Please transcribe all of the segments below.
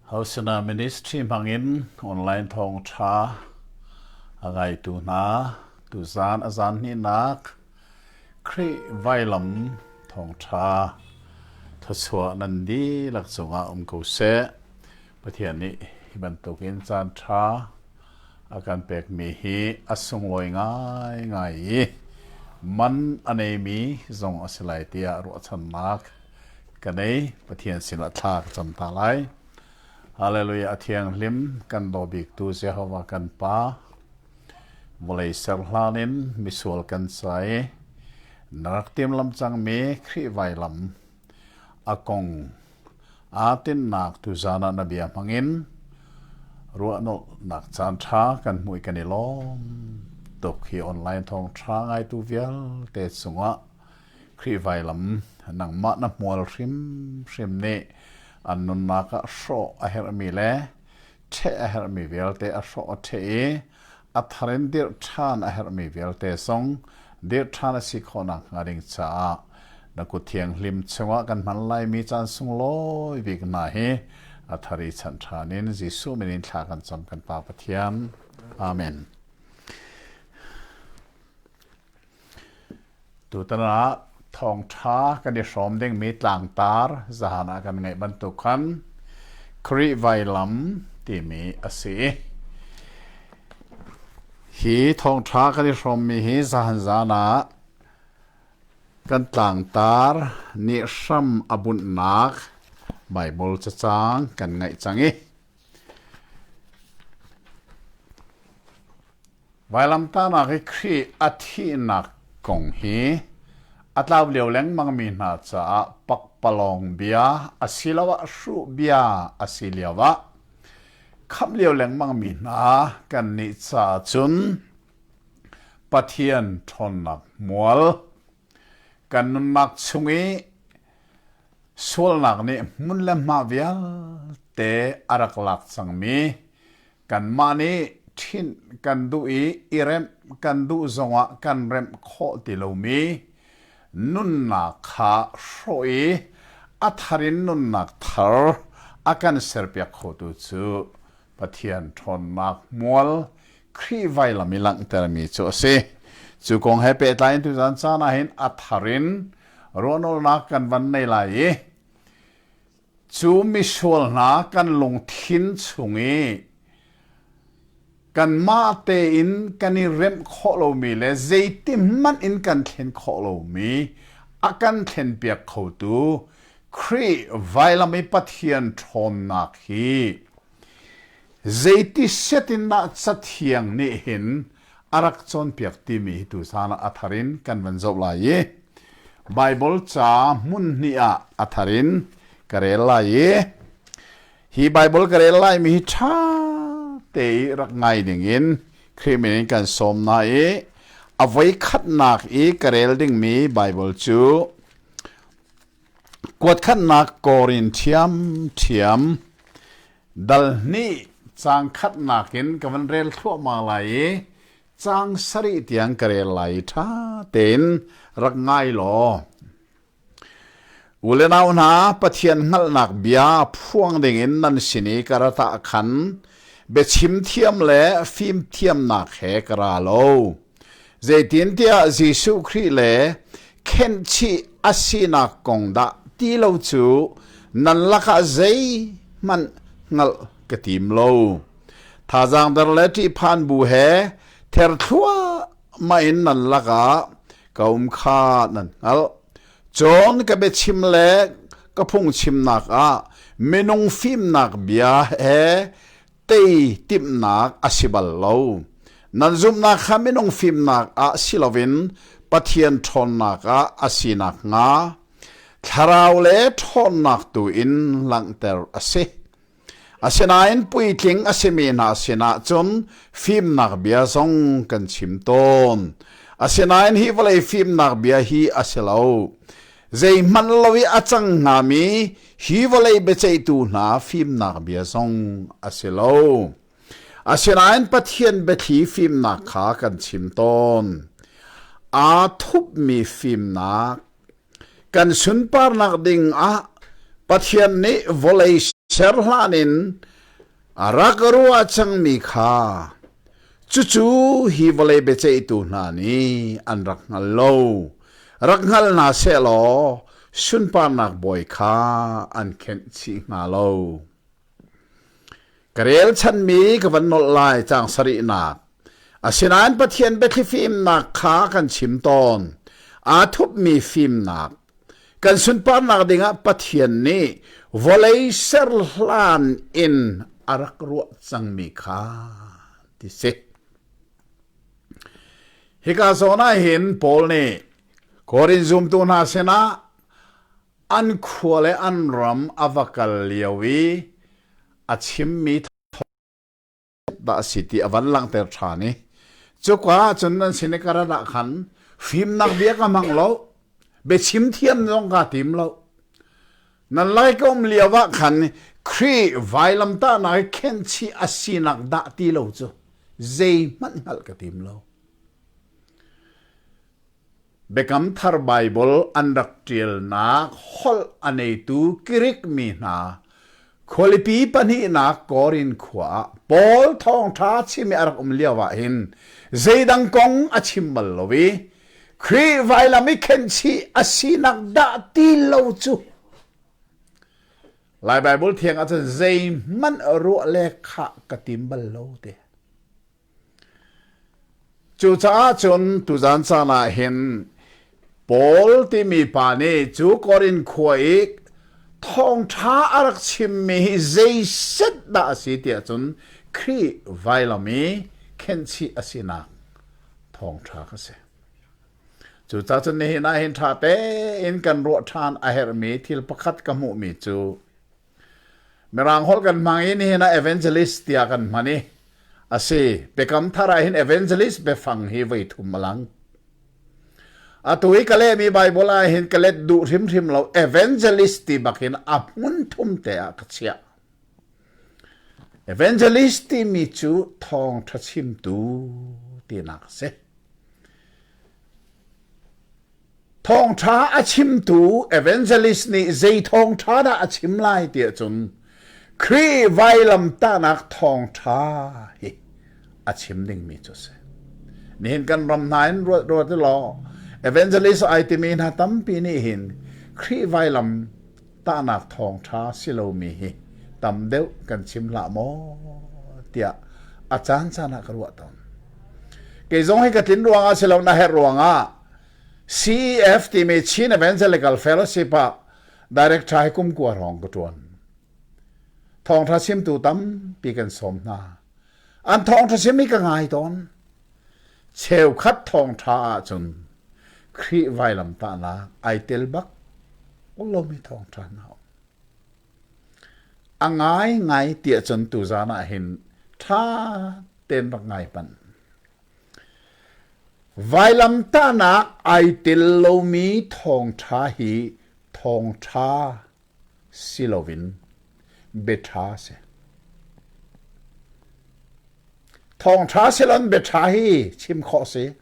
Hosana Ministry hmangin online thawngṭha a ngaitu hna tuzaan a zaan hnihnak Khrih Vailam Thawngṭha thluachuah nan dihlak cungah um ko seh. Pathian nih hi bantukin caanṭha a kan pekmi hi a sunglawi ngaingai i man a neimi zong a si lai tiah ruahchannak ka nei Pathian sinah thla ka cam hna lai. Hallelujah a thianghlim kan daw biktu Jehovah kan Pa vawlei ser hlan in misual kan sai na rak tiam lam cangmi Khrih vailam a kong aa tinhnak tuzaan ah na bia hmangin ruahnolhnak caanṭha kan hmuh i kan i lawm tuk hi online thawngṭha ngaitu vialte cungah Khrih vailam nangmah na hmual hrimhrim nih an nunnak ah hrawh a herhmi le ṭheh a herhmi vialte a hrawh a ṭheh i a thar in dirh ṭhan a herhmi vialte zong dirh ṭhan a si khawhnak hnga ding caah na kuthianghlim chungah kan hman laimi caan sunglawi bik hna hi a thar i chanh ṭhan in Jesuh min in thla kan cam kan Pa Pathian. Amen. Tutan ah thawngṭha kan i hrawm dingmi tlangtar zahan ah kan ngeih bantuk khan Khrih vailam timi a si i hi thawngṭha kan i hrawmmi hi zahan zan ah kan tlangtar nih hram a bunhnak Baibal cacang kan ngaih cang i Vailamtahnak i Khrih a thihnak kong hi a tlau lio lengmangmi hna caah pakpalawng bia asiloah hruh bia a si lioah khamh lio lengmangmi hna kannih caah cun Pathian ṭhawnnak hmual, kan nunnak chung i sualnak nih hmun le hma vialte a rak lak cangmi Kanmah nih ṭhinh kan duh i i remh kan duh zongah kan remh khawh ti lomi nunnak kha hrawh i a thar in nunnak thar a kan serpiak khotu cu Pathian ṭhawnnak hmual Khrih vailam i langhtermi cu a si. Cu kong he pehtlai in tuzan caan ah hin a thar in ruahnolnak kan van nei lai i Cu misual hna kan lungthin chung i kanmah tein kan i remh khawh lomi le zeitikhmanh in kan thlen khawh lomi a kan thlenpiak khotu Khrih vailam i Pathian ṭhawnnak hi Zeiti set in dah Cathiang nih hin a rak cawnpiak timi hi tuchan ah a thar in kan van zoh lai i Baibal ca hmun hnih ah a thar in ka rel lai i hi Baibal ka rel laimi hi ṭha te i rak ngai dingin Khrih min in kan sawm hna i a voi khatnak i ka rel dingmi Baibal cu Kuatkhatnak kawr in ṭhiamṭhiam dal hnih caang khatnak in ka van rel thluahmah lai i caang sarih tiang ka rel lai i ṭha tein rak ngai law. U le nau hna, Pathian hngalhnak bia phuang dingin nan sin i ka ratah khan biachim thiam le fimthiamnak he ka ra lo. Zeitintiah Jesuh Khrih le khenhchih a sinak kong dah ti lo cu nan lakah zeihmanh hngalh ka tim lo. Thazaang der le ṭihphan bu he ther thluahmah in nan lakah ka um kha nan hngalh. Cun ka biachim le ka phungchimnak ah minung fimnak bia he tei timhnak a si bal lo. Nan zumhnak kha minung fimnak ah si loin Pathian ṭhawnnak ah a si nakhnga thlarau le ṭhawnnak tu in langhter a si. Asinain puitling a simi hna sinah cun fimnak bia zong kan chim tawn. Asinain hi vawlei fimnak bia hi a si lo. Zeihmanh lo i a cang hngami Hi vawlei biaceihtu hna fimnak bia zong a si lo. Asinain Pathian biathli fimnak kha kan chim tawn. Aa thupmi fimnak kan sunparnak ding ah Pathian nih vawlei ser hlan in A rak ka ruah cangmi kha cucu hi vawlei biaceihtu hna nih an rak hngal lo. Rak hngal hna seh law sunparnak bawi kha an khenh chih hnga lo. Ka relchanmi ka van nolh lai cang sarihnak. Asinain Pathian biathli fimnak kha kan chim tawn. Aa thupmi fimnak Kan sunparnak dingah Pathian nih vawlei ser hlan in a rak ruah cangmi kha ti si. Hika zawn ah hin Paul nih Korin zumtu hna sinah an khua le an ram a va kal lio i a chimmi dah a si ti a van langhter ṭhan i cuka ah cun nan sin i ka rat ah khan fimnak bia ka hmang lo biachim thiam zong kaa tim lo nan lai ka um lio ah khan Khrih vailamtahnak i khenhchih a sinak dah ti lo cu zei hmanh hngalh ka tim lo Biakam Thar Baibal an rak ṭialnak holh a neitu Grik mi hna khualipi pahnihnak Korin khua ah Paul thawngṭha chim i a rak um lioah hin zeidang kong a chim bal lo i Khrih vailam i khenhchih a sinak dah ti lo cu. Lai Baibal thiang ah cun zeihmanh ruah le khah ka tim bal lo te. Cucaah cun tuzan caan ah hin Paul timi pa nih cu Korin khua i thawngṭha a rak chimmi hi zeiset dah a si tiah cun Khrih vailam i khenhchih a sinak thawngṭha ka si. Cucaah cun nihin ah hin ṭha tein kan ruah ṭhan a herhmi thil pakhat ka hmuhmi cu Mirang holh kan hmang i nihin ah evangelist tiah kan hman i a si Biakam Thar ah hin evangelist biafang hi voi thum a lang. Atu i ka lehmi Bible ah hin ka let duh hrimhrim lo evangelist ti bakin a hmun thum te ah ka chiah. Evangelist timi cu thawng tha chimtu tinak si. Thawngṭha a chimtu evangelist nih zei thawngṭha dah a chim lai ti ahcun Khrih vailamtahnak thawngṭha hi a chim dingmi cu a si. Nihin kan ram hna in ruat ruat u law evangelist ai timi hna tampi nih hin Khrih vailam tahnak thawngṭha si lomi hi tam deuh kan chim hlah maw tiah a caancaan ah ka ruah tawn. Kei zong hi ka tlin ruangah si lo na herh ruangah CEF timi Chin Evangelical Fellowship ah director hi kumkua rong ka ṭuan. Thawngṭha chimtu tampi kan sawm hna. an thawngṭha siami ka ngai tawn cheukhat thawngṭha ahcun Khrih vailam tahnak ai tel bak lomi thawngṭha hna a ngai ngai ti ahcun tu zan ah hin ṭha ten rak ngai pan vailam tahnak ai tel lomi thawngṭha hi thawngṭha si loin biaṭha a si. Thawngṭha si loin biaṭha hi chim khawh a si.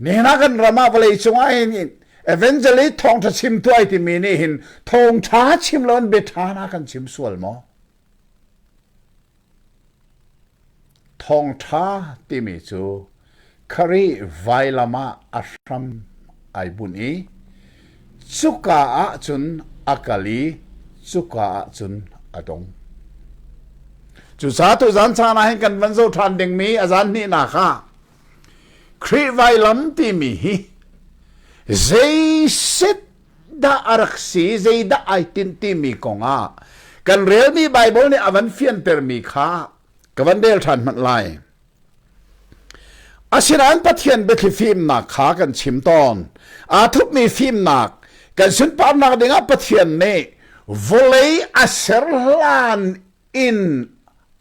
Nihin ah kan ram ah vawleicung ah hin evangelist thawngṭha chim tuai timi nih hin thawngṭha chim loin biaṭha na kan chim sual maw? Thawngṭha timi cu kharih vailam ah a hram ai bunh i cuka ah cun a kal i cuka ah cun a dong. Cucaah tuzan caan ah hin kan van zo ṭhan dingmi a zan hnihnak ah Khrih vailam timi hi zei set dah a rak si zeidah ai tin timi kongah kan relmi Baibal nih a van fiantermi kha ka van rel ṭhan hmanh lai. Asinain Pathian biathli fimnak kha kan chim tawn. Aa thupmi fimnak kan sunparnak dingah Pathian nih vawlei a ser hlan inn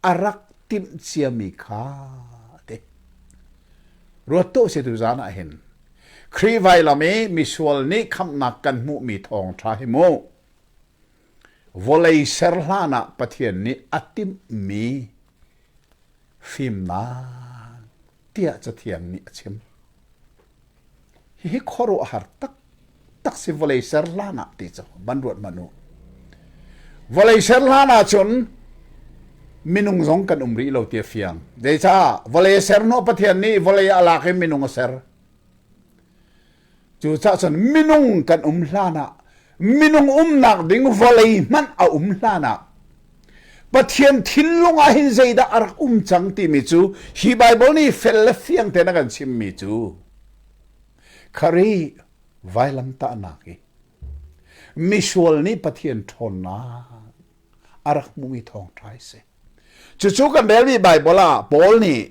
a rak timh ciami kha a ti. Ruat tuah se tu zan ah hin Khrih vailam i misual nih khamhnak kan hmuhmi thawng ṭha hi mu vawlei ser hlan ah Pathian nih a timhmi fimnak tiah Cathiang nih a chim. Hihi khuaruahhar taktak si vawlei ser hlan ah ti cu van ruat hmanh u. Vawlei ser hlan ah cun minung zong kan um rih lo ti a fiang. Zeicah? Vawlei ser no Pathian nih vawlei ah lak in minung a ser. Cucah cun minung kan um hlan ah minung umnak ding vawlei hmanh a um hlan ah Pathian thinlung ah hin zeidah a rak um cang timi cu hi Baibal nih fel le fiang tein a kan chimmi cu khari vailamtahnak i misual nih Pathian ṭhawnnak a rak hmumi thawngṭha a si. Cucu kan rel rih Baibal ah Paul nih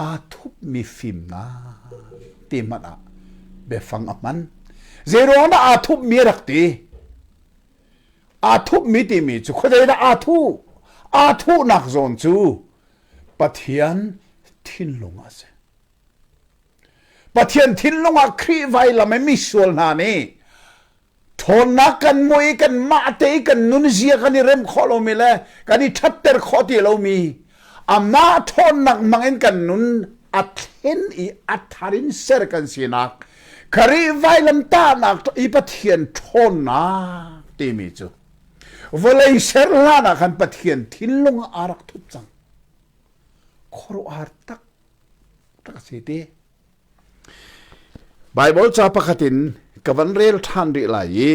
aa thupmi fimnak ti hmanh ah biafang a hman. Zeiruang dah aa thupmi a rak ti? aa thuhmi timi cu khuazei dah aa thuh aa thuhnak zawn cu Pathian thinlung a si Pathian thinlung ah Khrih vailam i misual hna nih ṭhawnnak kan hmuh i kanmah te i kan nunzia kan i rem khawh lomi le kan i ṭhatter khawh ti lomi amah ṭhawnnak mang in kan nun a thlen i a thar in ser kan sinak khari vailamtahnak i pathian ṭhawnnak timi cu vawlei ser hlan ah khan pathian thinlung ah a rak thut cang khuaruahhar tak tak a si te Baibal ca pakhat in ka van rel ṭhan rih lai i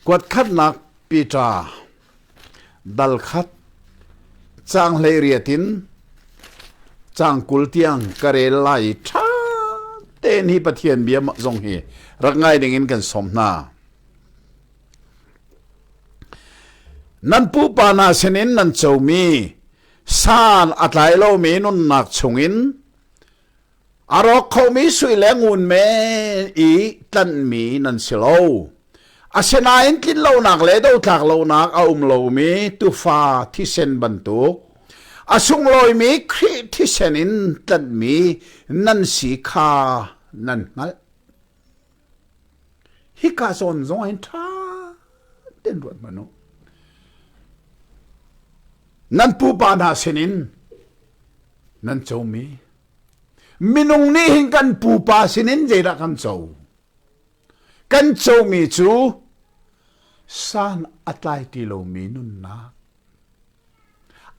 kuatkhatnak Peter dal khat caang hleiriat in caang kul tiang ka rel lai i ṭha tein hi Pathian bia zong hi rak ngai ding in kan sawm hna. Nan pupa hna sinin nan comi San a tlai lomi nunnak chungin a rawk khomi sui le ngun men i tlanhmi nan si lo. Asinain tlin lonak le dothlak lonak a um lomi tufa thisen bantuk a sunglawimi Khrih thisen in tlanhmi nan si kha nan hngalh. hika sawn zong in ṭha ten ruat man u nan pupa hna sinin nan comi minung nih hin kan pupa sinin zeidah kan co kan comi cu san a tlai ti lomi nunnak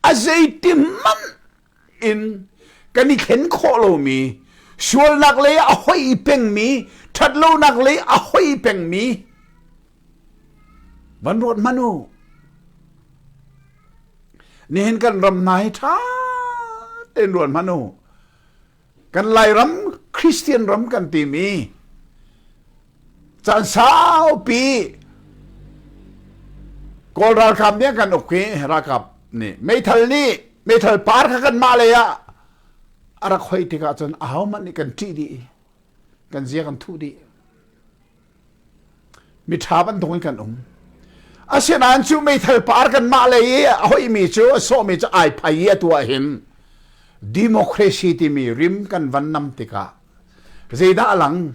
a zeiti hmanh in kan i thlen khawh lomi sualnak lei ah a hoi pengmi ṭhatlonak lei a hoi pengmi van ruat hmanh u nihin kan ram hna hi ṭha tein ruat hmanh u kan lairam christian ram kan timi caan saupi kawl ralkap nih kan uk hi ralkap nih meithal nih meithal par kha kan mah lei ah a rak hoi tikah cun ahohmanh nih kan ṭih dih kan zia kan thuh dih Miṭha bantuk in kan um. Asinain cu meithal par kanmah lei i a hoihmi cu a sawhmi cu ai phai i atu ah hin democracy timi rim kan van nam tikah zeidah a lang?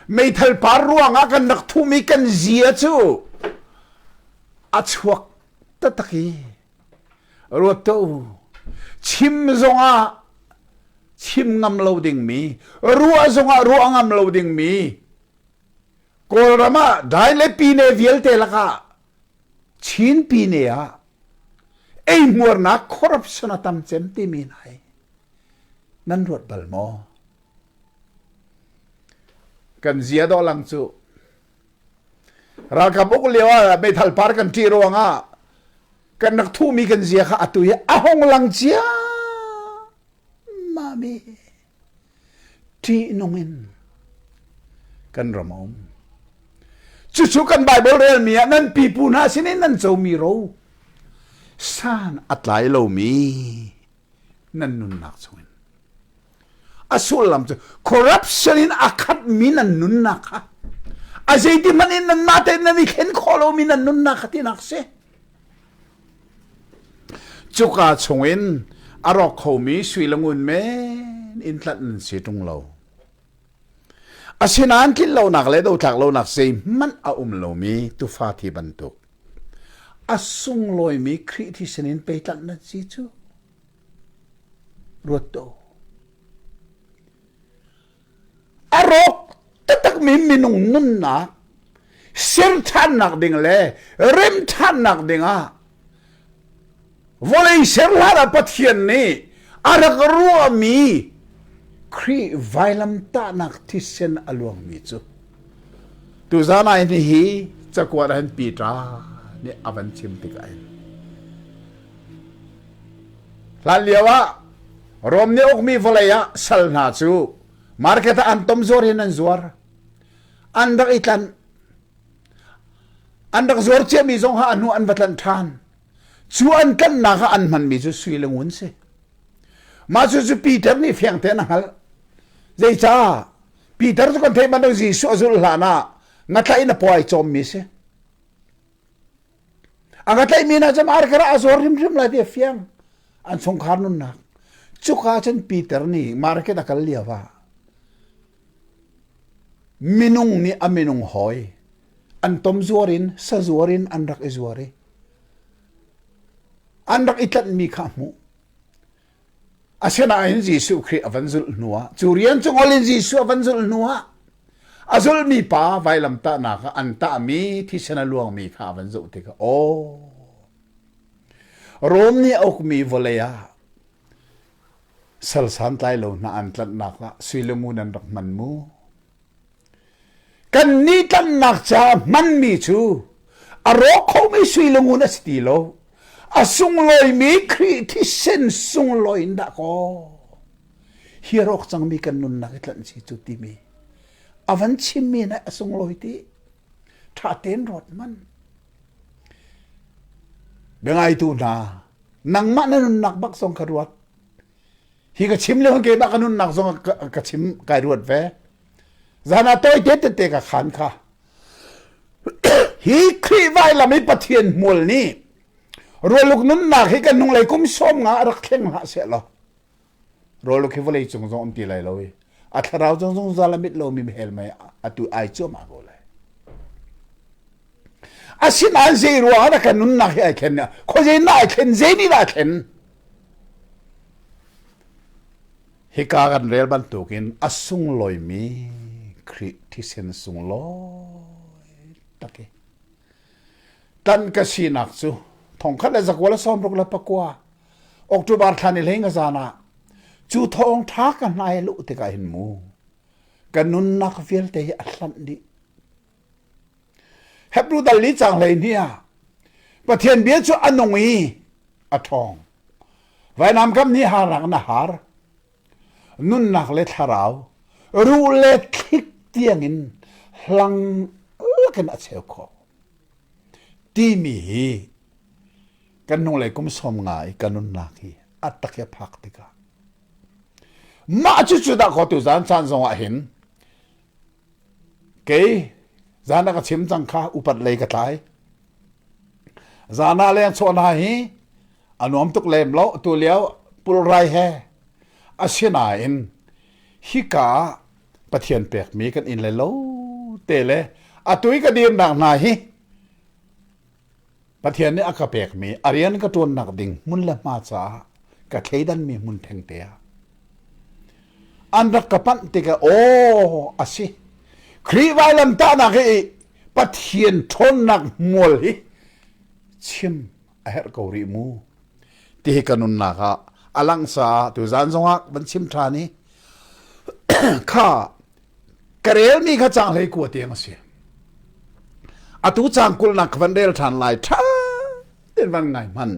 Meithal par ruangah kan rak thum i kan zia cu a chuak taktak i ruat tuah u chim zongah chim ngam lo dingmi ruah zongah ruah ngam lo dingmi kawlram ah dai le pine vialte lakah chin pine ah ei hmuarnak corruption a tam cem timi nai nan ruat bal maw kan zia do lang cu ralkap uk lio ah meithal par kan ṭih ruangah kan rak thuhmi kan zia kha atu hi a hong lang cia mami ṭihnung in kan ram a um cucu kan bible relmi ah nan pipu hna sin i nan comi ro san a tlai lomi nan nunnak chungin a sullam cu corruption in a khatmi nan nunnak kha a zeiti hmanh in nan mah tein nan i thlen khawh lomi nan nunnak kha tinak si cuka chungin a rawk khomi suilangun men in tlat nan si ṭung lo asinain tlinlonak le dotlak lonak zeihmanh a um lomi tufa thi bantuk a sunglawimi Khrih thisen in peitlanh nan si cu Ruat tuah. A rawk taktakmi minung nunnak serṭhannak ding le remṭhannak dingah vawlei serhlar ah Pathian nih a rak ruahmi Khrih vailamtahnak thisen a luangmi cu tuzan ah ni hi cakuat ah hin Peter nih a van chim tikah hin Hlanlio ah Rom nih ukmi vawlei ah sal hna cu market ah an tom zuar in an zuar. An rak i tlanh. An rak zuar ciami zong ha ahnu an va tlanh ṭhan. Cu an tlanhnak ah an hmanmi cu sui le ngun si. Mah cu cu Peter nih fiang tein a hngalh. Zeicah? Peter cu kan theih bantuk Jesuh a zulh hlan ah ngatlaih in a puai cawmmi si. Aga tlaihmi na cam arkar ah a zuar hrimhrim lai ti a fiang. An chungkhar nunnak. Cuka cun Peter nih market a kal lio ah minung nih a minung hawi an tom zuar in sazuar in an rak i zuar i an rak i tlanhmi kha a hmuh. Asinain Jesuh Khrih a van zulh hnuah cu rian cu ngol in Jesuh a van zulh hnuah a zulmi pa vailamtahnak ah an tahmi thisen a luangmi kha a van zoh tikah aw Rom nih a ukmi vawlei ah sal santlai lo hna an tlanhnak ah suilumu nan rak hman mu Kannih tlanhnak caah hmanmi cu a rawk khomi sui lungun a si ti lo. A sunglawimi Khrih thisen sunglawi in dahkaw hi a rawk cangmi kan nunnak i tlanh si cu timi a van chimmi nih a sunglawi ti ṭha tein ruat man. Biangaitu hna, nangmah na nunnak bak zong ka ruat. hi ka chim le keimah ka nunnak zong ka chim kai ruat ve zan ah toite tete ka khan kha hi khrih vai lam i pathian hmual nih roluk nunnak hi kan hnunglei kum som nga rak thleng ha se lo roluk hi vawlei cung zong um ti lai lo i a thlarau zong zong zalamit lo mi hel mai atu ai chuma go lai asin an zei ruang ah kan nunnak hi ai thlen kho je na ai thlen zei ni da thlen Hika kan rel bantukin a sunglawimi Khrih thisen sunglawi tak i tan ka sinak cu thongkhat le zakual le sawm ruk le pakua October thlan i leng zan ah cu thawng tha ka hnai lu tikah hin mu ka nunnak vialte hi a hlanh dih Hebrew dal ni cang hlei ni ah Pathian bia cu a nung i a ṭhawng. Vainam kam ni harang na har. Nunnak le thlarau, ruh le thlik tiangin hlang lakin a cheu khawh. Timi hi kan hnulei kum sawm nga i kan nunnak hi a tak i a phak tikah mah cu cu dah kho tu zan chan zongah hin Kei zan ah ka chim cang kha upat lei ka tlai. Zan ah leng chaw hna hi a nuam tuk lem lo tu lio pulrai he asinain hika pathian pek mi kan in le lo te le atu i ka dir nak hna hi Pathian nih a ka pekmi a rian ka ṭuannak ding hmun le hma caah ka thleidanmi hmun thengte ah an rak ka panh tikah aw a si Khrih vailamtahnak hi Pathian ṭhawnnak hmual hi chim a herh ko rih mu ti hi ka nunnak ah a lang caah tu zan zongah van chim ṭhan i kha ka rel mi kha cang hlei kua tiang a si atu cang kul nak van rel than lai tha in van ngai hman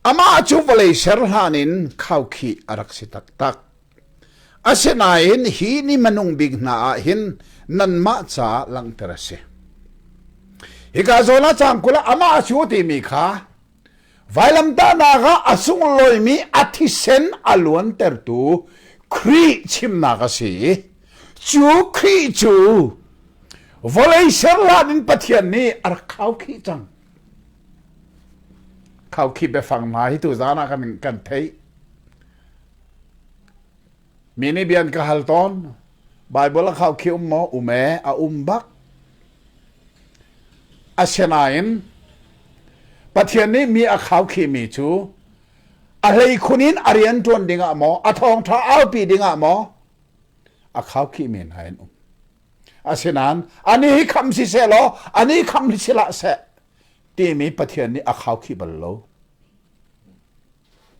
amah cu vawlei ser hlan in khau khi a rak si tak tak asinain hi ni manung bik hna ah hin nanmah ca langter a si hika zola cang kula amah cu ti mi kha Vailamtahnak ah a sunglawimi a thisen a luantertu Khrih chimnak a si i cu Khrih cu vawlei ser hlan in Pathian nih a rak khau khi cang. Khau khi biafang hna hi tu zan ah kan, kan theih. Mi nih bia an ka hal tawn. Baibal a khaukhih um maw? Um ee, a um bak. Asinain Pathian nih mi a khaukhihmi cu a hleikhun in a rian ṭuan dingah maw, a thawngṭha aupi dingah maw a khaukhih men ha in um. Asinain ani hi kham si se law, ani kham hi si lah se, timi Pathian nih a khaukhih bal lo.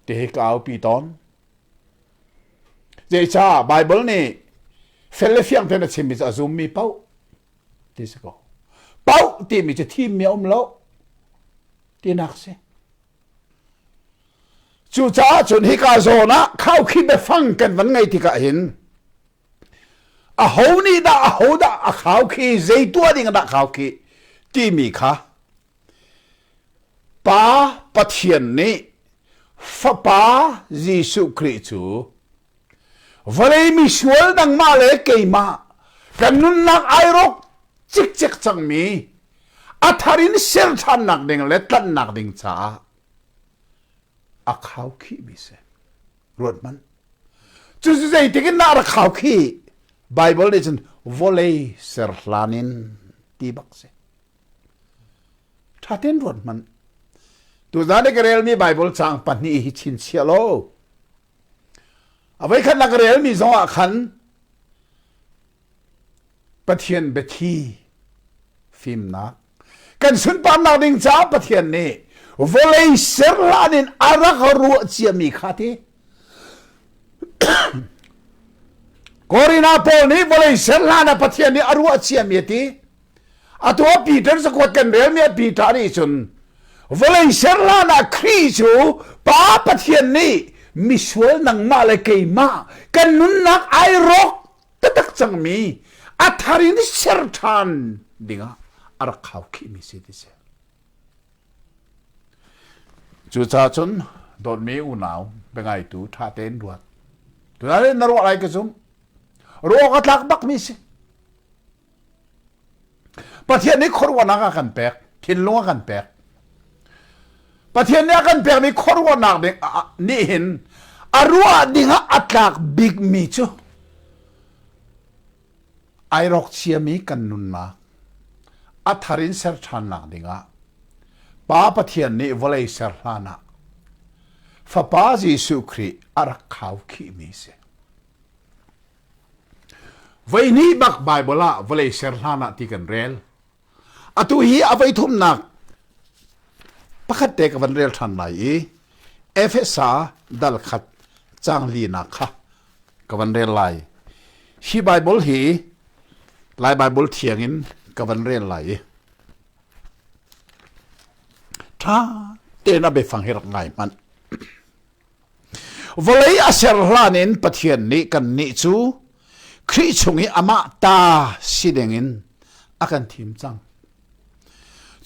Ti hi ka aupi tawn. Zeicah Baibal nih fel le fiang tein a chimmi cu a zummi pauh ti si ko. Pauh timi cu thimmi a um lo tinak si. Cucaah cun hika zawn ah khaukhim le fang kan van ngei tikah hin Aho nih dah ahodah a khau khi zei tuah ding dah khau khi timi kha Pa Pathian nih Fapa Jesuh Khrih cu vawlei misual nangmah le keimah kan nunnak ai rawk cikcek cangmi a thar in ser ṭhannak ding le tlanhnak ding caah a khau khihmi si. ruat Cucu zeitik in dah rak hau khi Bible nih cun volei ser hlan in ti bak si. Tha ten ruat man. Tu zan ka relmi Bible chang pahnih hi chin sia lo. Avei khat la ka relmi zong ah khan Pathian biathli fimnak kan sunparnak ding caah Pathian nih vawlei ser hlan in a rak ruah ciami kha ti Korina pawl nih vawlei ser hlan ah Pathian nih a ruah ciami a ti atu ah Peter sakuat kan relmi a Peter nih cun vawlei ser hlan ah Khrih cu Pa Pathian nih misual nangmah le keimah kan nunnak ai rawk taktak cangmi a thar in ser ṭhan dingah a rak khau khihmi si ti si cucaah cun dawtmi unau biangaitu ṭha tein ruat tunah na ruah lai ka zum ruah ka tlak bakmi si Pathian nih khuaruahnak a kan pek thinlung a kan pek Pathian nih a kan pekmi khuaruahnak ding nih hin a ruah ding ah a tlak bikmi cu ai rawk ciami kan nunnak a thar in ser ṭhannak dingah Pa Pathian nih vawlei ser hlan ah Fapa Jesuh Khrih a rak khau khihmi si. Voihnih bak Bible ah vawlei ser hlan ah ti kan rel. Atu hi a voi thumnak pakhat te ka van rel than lai i Efesa dal khat chang li nak kha ka van rel lai. Hi Bible hi Lai Bible thiang in ka van rel lai i tha ten a be fang hirak ngai man vawlei a ser hlan in Pathian nih kannih cu Khrih chung i amah ta si dingin a kan thim cang.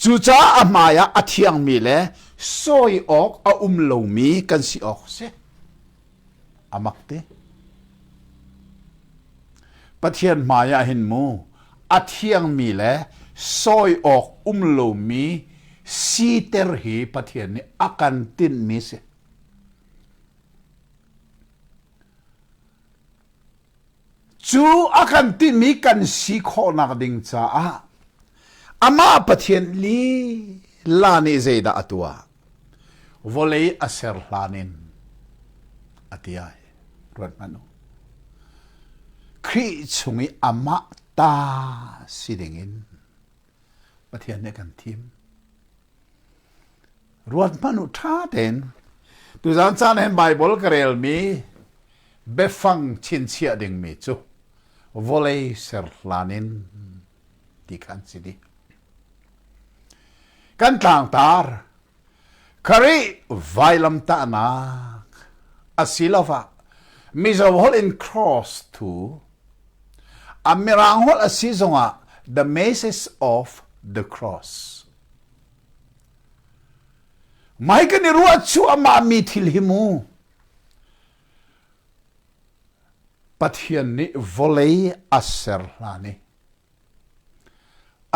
Cucaah a hmaiah a thiangmi le sawi awk a um lomi kan si awk si. A mak te. Pathian hmaiah hin mu a thiangmi le sawi awk um lomi siter hi Pathian nih a kan tinhmi si. Cu a kan timi kan si khawhnak ding caah amah Pathian lila nih zeidah a tuah? Vawlei a ser hlan in a ti ai. Ruat hmanh u. Khrih chung i amah ta si ding in Pathian nih kan thim. Ruat hmanh u ṭha tein. Tuzan caan hen Bible ka relmi biafang chinchiah dingmi cu vawlei serhlan in ti kan si di. Kan tlangtar Kharih vailamtahnak asiloah Mizo holh in cross thu a mirang holh a si zongah the message of the cross mai kan i ruah chu amah mi thil hi mu pathian nih vawlei a ser hlani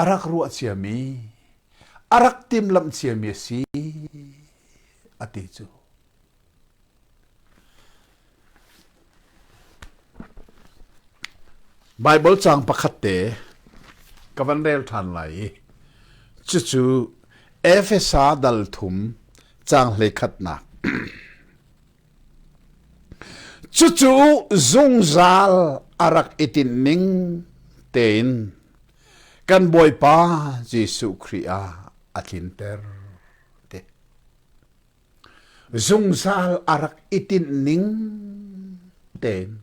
a rak ruah ciami a rak timlamh ciami a si a ti cu Baibal caang pakhat te ka van rel ṭhan lai i cucu Efesa dal thum caang hlei khatnak Cucu zungzal a rak i tim ning tein kan Bawipa Jesuh Khrih ah a tlinter ti. Zungzal a rak i tinh ning tein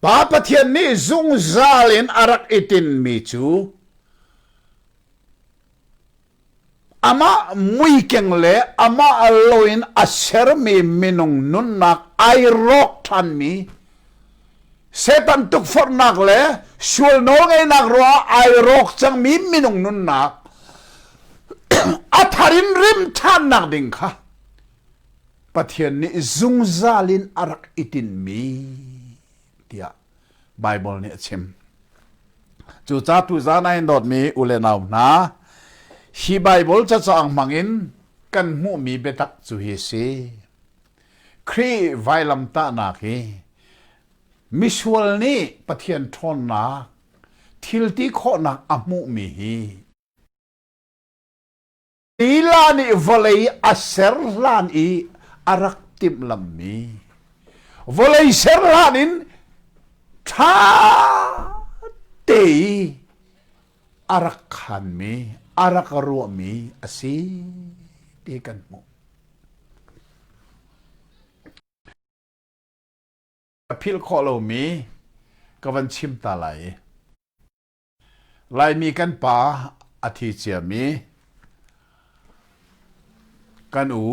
Pa Pathian nih zungzal in a rak i tinmi cu Amah muikeng le amah lo in a sermi minung nunnak ai rawk ṭhanmi Satan tukforhnak le sual nawlngeihnak ruangah ai rawk cangmi minung nunnak a thar in rim ṭhannak ding kha Pathian nih zungzal in a rak i tinmi tiah Baibal nih a chim. Cu ca tuzan ah hin dawtmi u le nau hna, hi Baibal cacaang hmangin kan hmuhmi biatak cu hi si. Khrih vailamtahnak hi misual nih Pathian ṭhawnnak thilti khawhnak a hmuhmi hi Lila nih vawlei a ser hlan i a rak timhlamhmi vawlei ser hlan in ṭha te i a rak khanmi, a rak ruahmi a si ti kan hmuh. Ka philh khawh lomi ka van chim ta lai i Laimi kan pa a thi ciami kan u,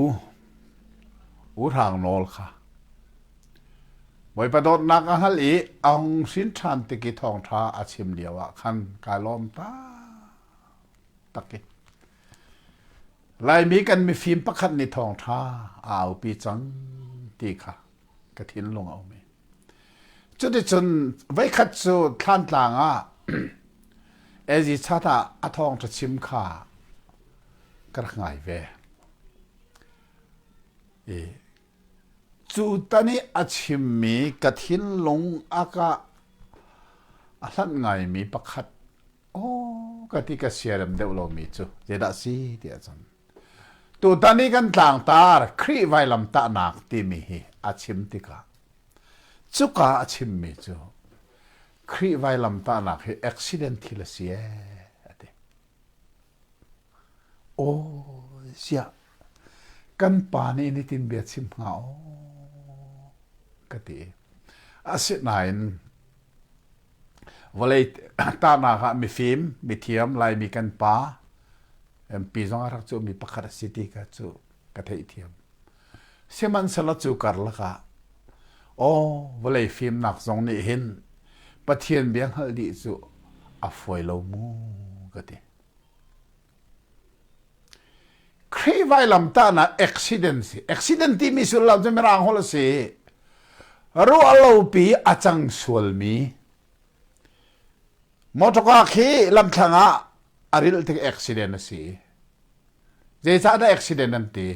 U Hrang Nawl kha Bawipa dawtnak a hngal i a hung hrin ṭhan tik i thawngṭha a chim lio ah khan kaa lawm taktak i Laimi kan mifim pakhat nih thawngṭha a aupi cang ti kha ka thinlung a um i Cuticun voikhat cu thlantlang ah Ezi chan ah a thawngṭha chim kha ka rak ngai ve. I cu tan i a chimmi ka thinlung a ka a hlanh ngaimi pakhat aw ka ti ka siarem deuh lomi cu zeidah si ti ahcun Tutan i kan tlangtar Khrih vailamtahnak timi hi a chim tikah cuka a chimmi cu Khrih vailamtahnak hi accident thil a si ee a ti. Aw ziah kan pa nih nitin bia chim hnga aw ka ti. Asinain Vawlei tahnak ah mifim, mithiam, Laimi kan pa, MP zong a rak cu mi pakhat a si ti ka cu ka theihthiam. Sihmanhsehlaw cu karlak ah aw vawlei fimnak zong nih hin Pathian bia hngalh dih cu a fuai lo mu ka ti. Khrih vailamtahnak accident si. Accident timi sullam cu mirang holh a si. Ruahlopi a cang sualmi. Motorcar khi lamthlang ah a ril tik accident a si. Zeicahdah accident an ti?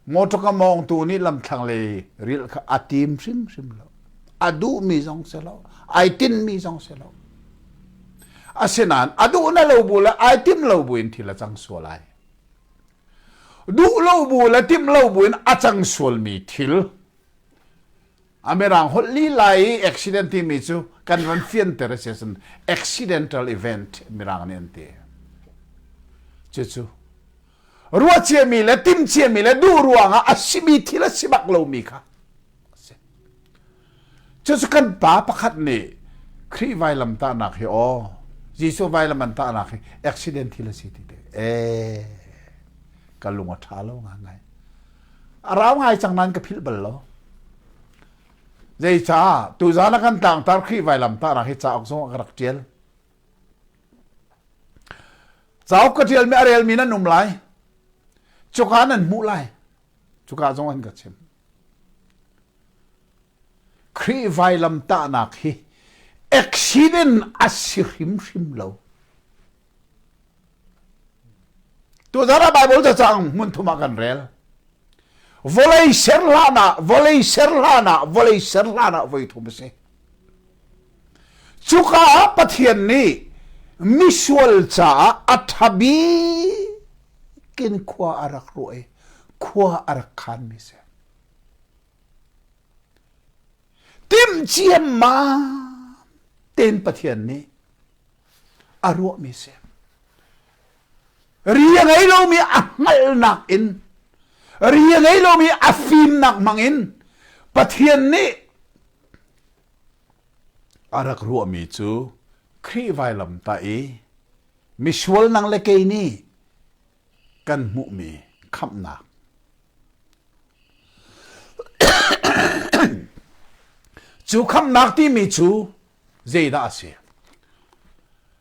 Motor ka mawngtu nih lamthlang le ril kha a tim hrimhrim lo. A duhmi zong si lo. Ai tinmi zong si lo. Asinain a duh na lo bu le ai tim lo bu in thil a cang sual ai. Duh lo bu le tim lo bu in a cang sualmi thil A mirang holh lila i accident timi cu kan ran fianter a si ahcun accidental event mirang nih an ti. Cucu ruahciami le timciami le duh ruangah a simi thil a si bak lomi kha a si. Cucu kan pa pakhat nih Khrih vailam tahnak hi aw Jesuh vailam an tahnak hi accident thil a si ti te. E, ka lung a ṭha lo ngai. a rau ngai cang nan ka philh bal lo zeicah tuzan a kan tangtar khi vailam ta ra hi cauk zong a ka rak tial cauk ka tial mi a rel mi nan um lai cuka nan hmuh lai cuka zong an ka chim Khrih vailamtahnak hi accident a si hrimhrim lo. Tuzarah Bible cacang hmun thum ah kan rel. Vawlei ser hlan ah, vawlei ser hlan ah, vawlei ser hlan ah voi thum a si. Cuka ah Pathian nih misual caah a ṭhabi in khua a rak ruah i khua a rak khanmi si. Timhciam ma ten Pathian nih a ruahmi si. Ri a ngei lomi a hngalhnak in ri a ngei lomi a fimnak hmangin Pathian nih a rak ruahmi cu Khrih vailam ta i misual nang le kei nih kan hmuhmi khamhnak cu khamhnak timi cu zeidah a si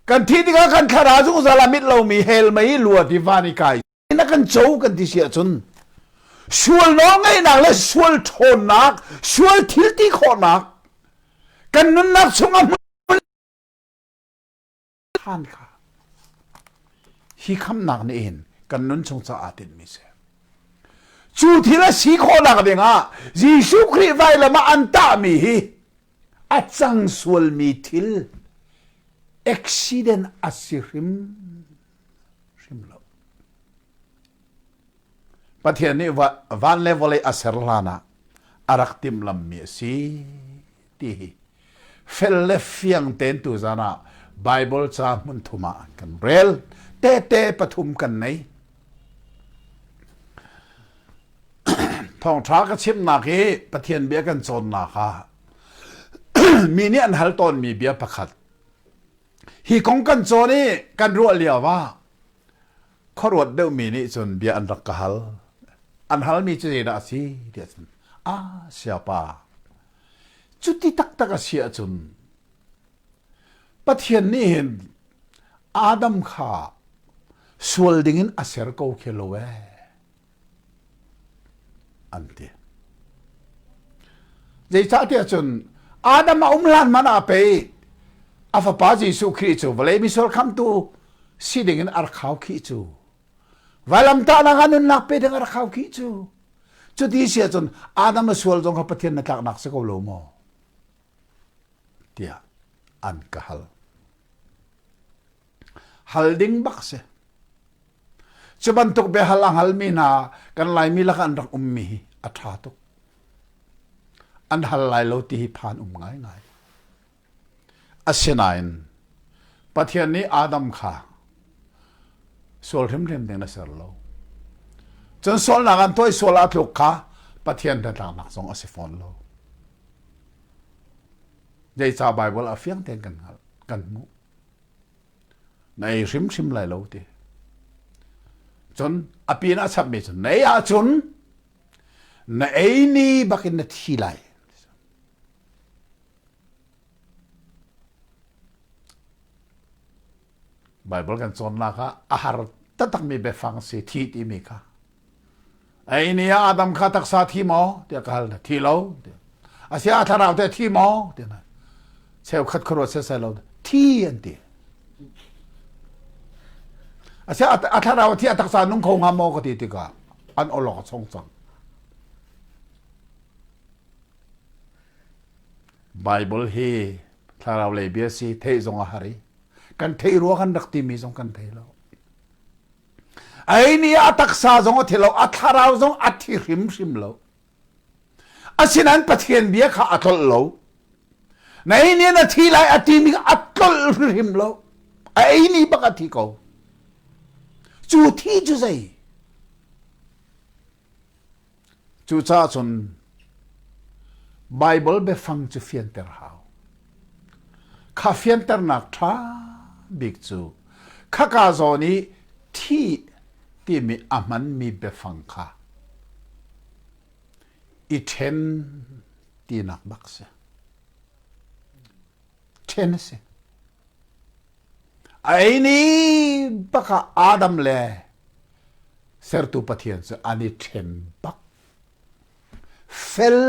kan thih tikah kan thlarau zungzal ah mit lomi hell mei luat i van i kai na kan co kan ti si ahcun sual nawlngeihnak le sual ṭhawnnak sual thilti khawhnak kan nunnak chungah hi khamnak na in kan nun chung caah tinhmi si cu thil a si khawhnak dingah Jesuh Khrih vailam ah an tahmi hi a cang sualmi thil accident a si hrim hrim lo Pathian nih van le vawlei a ser hlan ah a rak timhlammi a si ti hi fel le fiang tein tuzan ah Bible ca hmun thum ah kan rel tete pathum kan nei thawngtha ka chimnak hi Pathian bia kan cawnnak ha mi nih an hal tawnmi bia pakhat hi kong kan cawn i kan ruah lio ah khuaruat deuhmi nih cun bia an rak ka hal an halmi cu zeidah a si tiah cun a siapa Cuti taktak a si ahcun Pathian nih hin Adam kha sual dingin a ser ko khi lo ee an ti. Zeicahtiah cun Adam a um hlan man ah pei a fapa Jesuh Khrih cu vawlei misor khamtu si dingin a rak khau khi cu. Vailamtahnak ah nunnak pe ding a rak khau khi cu. Cuti si ahcun Adam le sual zong kha Pathian na tlaknak si ko lo maw? Tiah an ka hal. Hal ding bak si. Cu bantuk biahal a halmi hna kan Laimi lak an rak ummi hi a ṭha tuk. An hal lai lo ti hi phan um ngaingai. Asinain Pathian nih Adam kha sual hrimhrim ding na ser lo. Cun sualnak an toih sual ah tluk kha Pathian hnatlaknak zong a si fawn lo. Zeicah Baibal a fiang tein kan hngalh, kan hmuh. Na ei hrimhrim lai lo ti. Cun a pin a chapmi cu nei ahcun na ei ni bakin na thi lai. Baibal kan cawnnak ah a har taktakmi biafang si thi timi kha ei ni ah Adam kha taksa thi maw tiah ka hal na thi lo asi a thlarau te thi maw tiah cheukhat khuaruah se sai lo thi an ti asi a thlarau thi a taksa nung kho nga maw ka ti tika an olok a chung cang Baibal hi thlaraulei bia si theih zong a har i kan theih rua kan rak timi zong kan thei lo. Ai nih a taksa zong a thi lo, a thlarau zong a thi hrimhrim lo. Asinan Pathian bia kha a tlolh lo. Na ei nih na thi lai a ti ning a tlolh hrimhrim lo. A ei ni bak a thi ko. Cu thi cu zei? Cucaah cun Baibal biafang cu fianter hau. Kha fianternak ṭha bik cu khaka zawn i thi timi a hmanmi biafang kha i ṭhen tinak bak si. Ṭhen a si. A ei ni bak ah Adam le Sertu Pathian cu an i ṭhen bak. Fel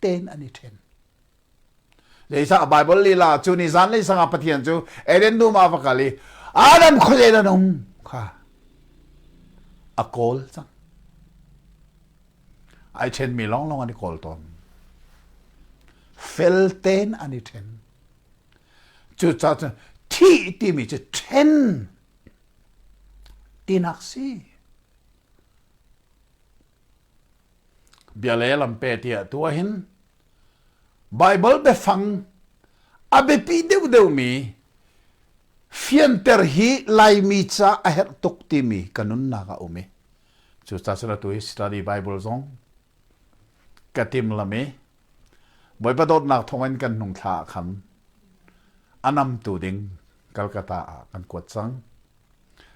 tein an i ṭhen. Zeicah Baibal lila cu ni zanlei sangah Pathian cu Eden dum ah va kal i Adam khuazei dah nung kha a kawl cang. Ai ṭhenmi lawnglawng an i kawl tawn. Fel tein an i ṭhen. Cucaah thih timi cu ṭhen tinak si. Bia le lampe ti atu ahhin Baibal biafang a biapi deuhdeuhmi fianter hi Laimi ca a herh tuk timi ka nunnak a um i cucaah atu i study Bible zong ka timlam i Bawipa dawtnak thawngin kan hnung thla ah khan a namtu ding Kalkata ah kan kuat cang.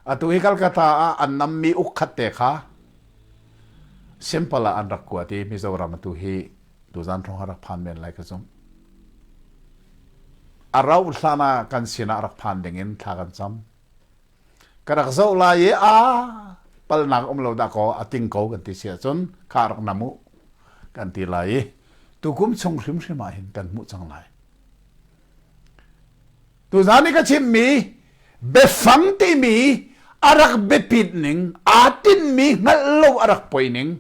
Atu hi Kalkata ah an nammi ukhat te kha simple ah an rak kuat i Mizoram atu hi tuzan thong ha rak phan men lai ka zum. A rau hlan ah kan sinah rak phan ding in thla kan cam. ka rak zoh lai i a palnak um lo dah kaw a ting ko kan ti si ahcun kha rak nam u kan ti lai i tukum chung hrimhrim ah hin kan hmuh cang lai tuzan i ka chimmi biafang timi a rak biapit ning aa tinmi hngalh lo a rak poi ning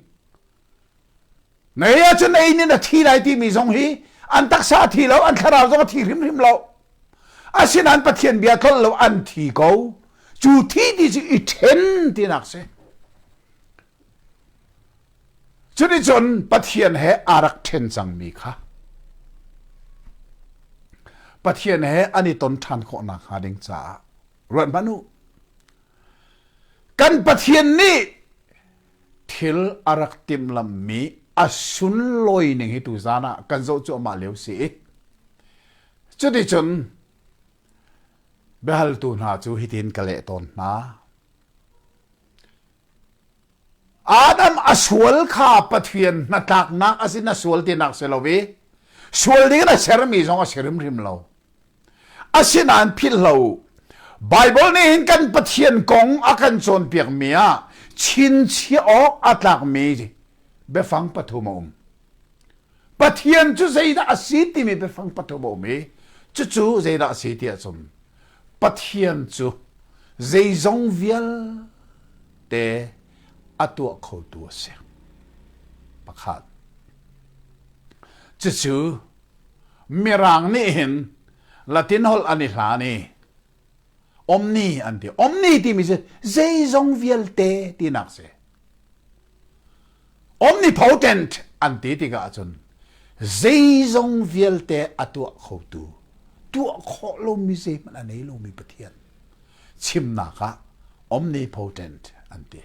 Nei ahcun ei nin a thi lai timi zong hi an taksa a thi lo, an thlarau zong a thi hrimhrim lo. Asinain Pathian bia tlol lo an thi ko. Cu thi ti cu i ṭhen tinak si. Cunicun Pathian he aa rak ṭhen cangmi kha Pathian he an i ton ṭhan khawh nakhnga ding caah ruat hmanh u. Kan Pathian nih thil a rak timhlamhmi a sunlawi ning hi tu zan ah kan zoh cuahmah lio si i cuticun biahaltu hna cu hitin ka leh tawn hna Adam a sual kha Pathian hnatlaknak a si na sual tinak si lo i sual ding na sermi zong a si rimrim lo Asinain philhlo Baibal nih hin kan Pathian kong a kan cawnpiakmi ah chinchiah awk a tlakmi biafang pathum a um. Pathian cu zeidah a si timi biafang pathum a um i cucu zeidah a si ti a sum. Pathian cu zeizong vialte a tuah khotu a si. Pakhat. Cucu Mirang nih hin Latin holh an i hlan i omni an ti. Omni timi cu zeizong vialte tinak si. Omnipotent an ti tikah ahcun zeizong vialte a tuah khotu, tuah khawh lomi zeihmanh a nei lomi Pathian chimnak ah omnipotent an ti.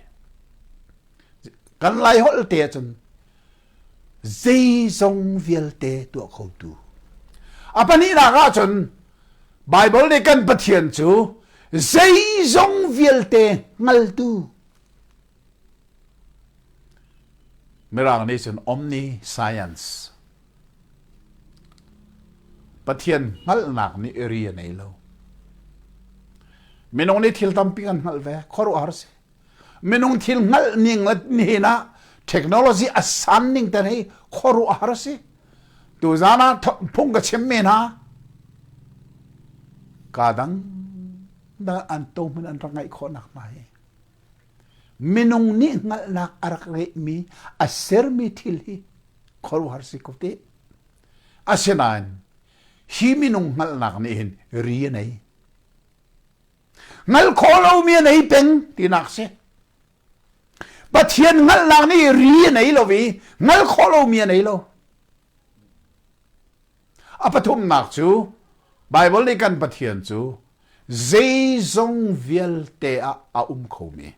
Kan Lai holh te ahcun Zeizong vialte tuah khotu. A pahnihnak ah cun Bible nih kan Pathian cu zeizong vialte hngaltu Mirang nih cun omni science Pathian hngalhnak nih ri a nei lo minung nih thil tampi kan hngalh ve khuaruahhar si minung thil hngalh ning nin ah technology a san ning te hi khuaruah har si tu zan ah phung ka chim me na ka dang da an to mun an rak ngai kho nak mai minung ni ngal nak arak re mi a ser mi thil hi khoru har si ko te asinain hi minung ngal nak ni hin ri nei Ngal khawh lomi a nei peng tinak si. Pathian ngalhnak nih ri a nei lo i ngal khawh lomi a nei lo. A pathumnak cu Baibal nih kan Pathian cu zeizong vialte ah a um khomi.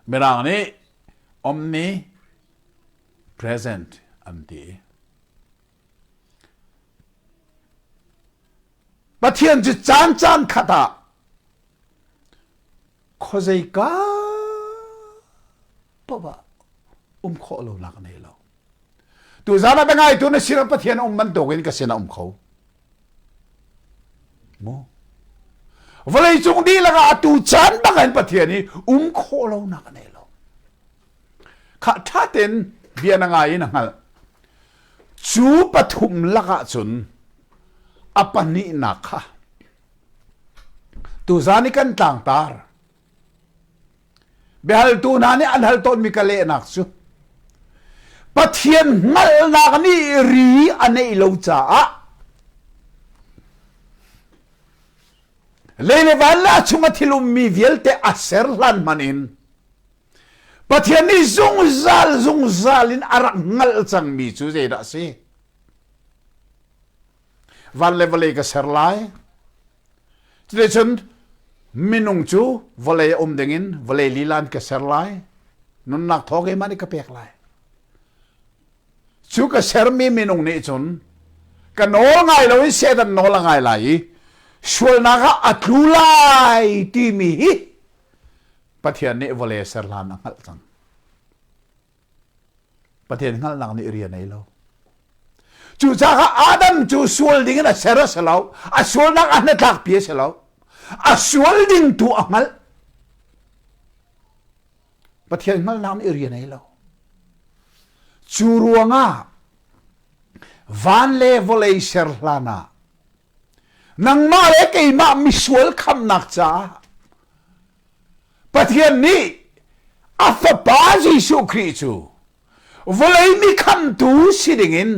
Mirang nih omni present an ti. Pathian cu caan caan khat ah khuazeika paoh ah um khawh lo lak nei lo. Tu zan ah ngaitu na sinah Pathian um bantuk in ka sinah um kho. Mo. Vawlei cung dihlak ah atu caan bang in Pathian i um khawh lo nak nei lo. kha ṭha tein bia na ngai in a hngalh cu pathum lakah cun a pahnihnak kha tuzan i kan tlangtar biahaltu hna nih an hal tawnmi ka lehnak cu pathian hngalhnak nih ri a neih lo caah lei le van la chung a thil ummi vialte a ser hlan hman in Pathian nih zungzal zungzal in a rak hngalh cangmi cu zeidah a si? Van le vawlei ka ser lai. Cuti cun minung cu vawlei a um dingin vawlei lilan ka ser lai. Nunnak thawng keimah nih ka pek lai. Cu ka sermi minung nih cun ka nawl ngai lo in Satan nawl a ngai lai i sualnak ah a tlu lai timi hi Pathian nih vawle ser hlan a hngalh cang. Pathian hngalhnak nih rian ei lo. Cucaah Adam cu sual ding in a ser a si lo. A sualnak a hnatlakpi a si lo. A sual ding tu a hngalh. Pathian hngalhnak nih rian ei lo. Cu ruangah van le vawlei ser hlan ah Nangmah le keimah misual khamnak caah Pathian nih a fapa Jesuh Khrih cu vawlei mi khamtu si dingin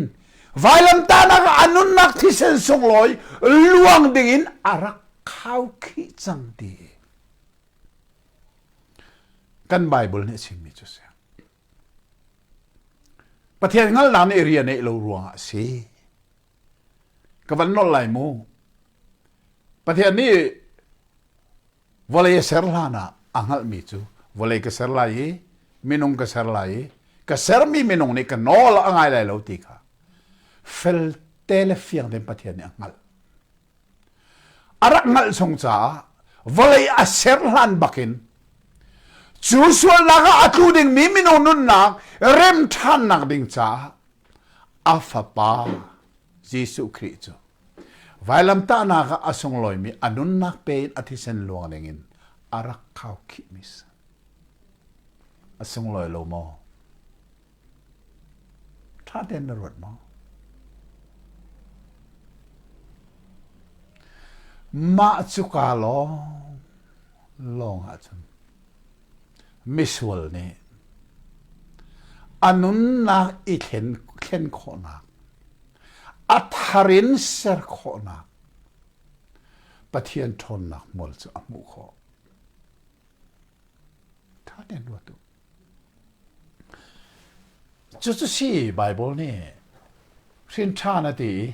vailamtanak a nunnak thisen sunglawi luang dingin a rak khau khi cang ti kan Bible nih a chimmi cu si Pathian hngalhnak nih rian neih lo ruangah a si ka van nolh lai mu. Pathian nih vawlei a ser hlan ah a hngalhmi cu vawlei ka ser lai i minung ka ser lai i ka sermi minung nih ka nawl a ngai lai lo ti kha felte le fiang tein Pathian nih a hngalh. a rak ngalh chung caah vawlei a ser hlan bakin cu sualnak ah a tlu dingmi mino nunnak rem ṭhannak ding caah a fapa Jesuh Khrih cu vailamtahnak ah a sunglawimi a nunnak pein a thisen luang dingin a rak khau khihmis a sunglawi lo maw ṭha tein na ruat maw? Mah cu kaa lawng lawng ahcun misual nih a nunnak i thlen, thlen khawhnak, a thar in ser khawhnak, Pathian ṭhawnnak hmual cu a hmuh khawh. Ṭha tein ruat u. Cucu si Baibal nih hrinṭhan a ti i